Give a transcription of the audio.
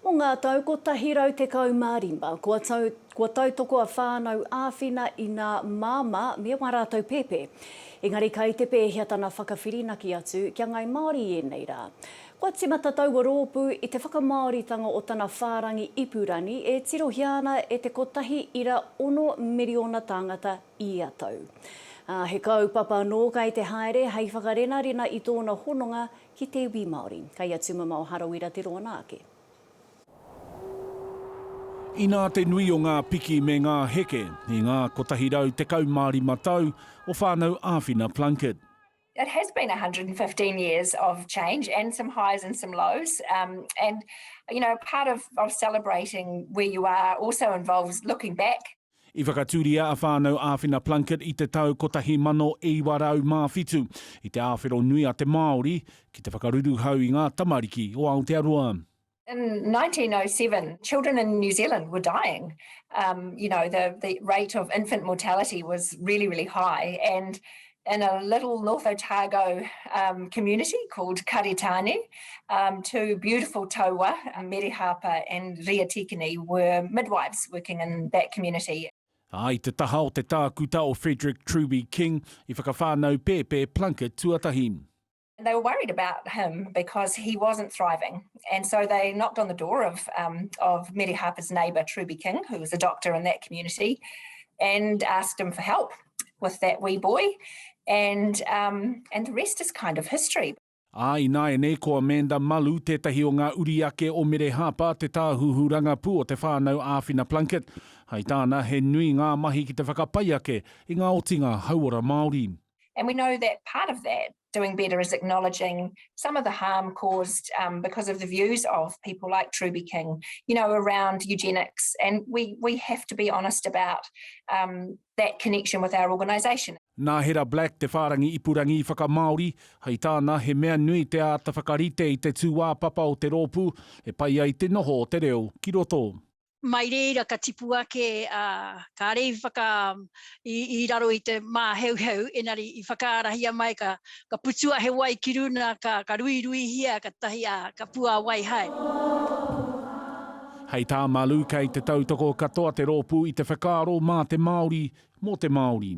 Mō ngā tau 115, kua tau, kua tautoko a Whānau Āwhina i nā māmā me wā rātou pēpē. Engari kai te pēhea tana whakawhirinaki atu kia ngai Māori i ēnei rā? Kua tīmata taua rōpū i te whakamāoritanga o tana whārangi ipurangi e tirohia ana e te kotahi ira ono miriona tāngata ia tau. Ā, he kaupapa anō kai te haere hei whakarenarena i tōna hononga Ki te iwi Māori. Kei a Tumamao Harawira te roa nā ake. Inā te nui o ngā piki me ngā heke i ngā 115 tau o Whānau Āwhina Plunket. It has been 115 years of change and some highs and some lows and you know part of celebrating where you are also involves looking back I whakatūria a Whānau Āwhina Plunket i te tau 1907 i te āwhero nui a te Māori ki te whakaruruhau i ngā tamariki o Aotearoa. In 1907, children in New Zealand were dying. Um, you know, the, the rate of infant mortality was really, really high and in a little North Otago um, community called Karitane. Um, two beautiful taua, Mere Harper and Ria Tikini, were midwives working in that community. A i te taha o te tākuta o Frederick Truby King, i whakawhānau pēpē Plunkett tuatahi. they were worried about him because he wasn't thriving. And so they knocked on the door of, um, of Mary Harper's neighbour, Truby King, who was a doctor in that community, and asked him for help with that wee boy. And, um, and the rest is kind of history. Ā, ināianei ko Amanda Malu tētahi o ngā uri ake o Mere Harper, te tāhuhu rangapū o te whānau Āwhina Plunkett. Hai tāna, he nui ngā mahi ki te whakapai ake i ngā otinga hauora Māori. And we know that part of that doing better is acknowledging some of the harm caused um, because of the views of people like Truby King, you know, around eugenics. And we, we have to be honest about um, that connection with our organisation. Nā Hera Black te whārangi ipurangi whakamāori, hei tāna he mea nui te āta whakarite i te tūāpapa o te rōpū e pai ai te noho o te reo ki roto. mai reira ka tipu ake, ā, kāre i whaka, i, i raro i te māheuheu, engari i whakaarahia mai ka, ka putua he wai ki runa, ka, ka ruiruihia katahi, ā, ka puāwai hai. Hei tā Malu kei te tautoko katoa te rōpū i te whakaaro mā te Māori, mō te Māori.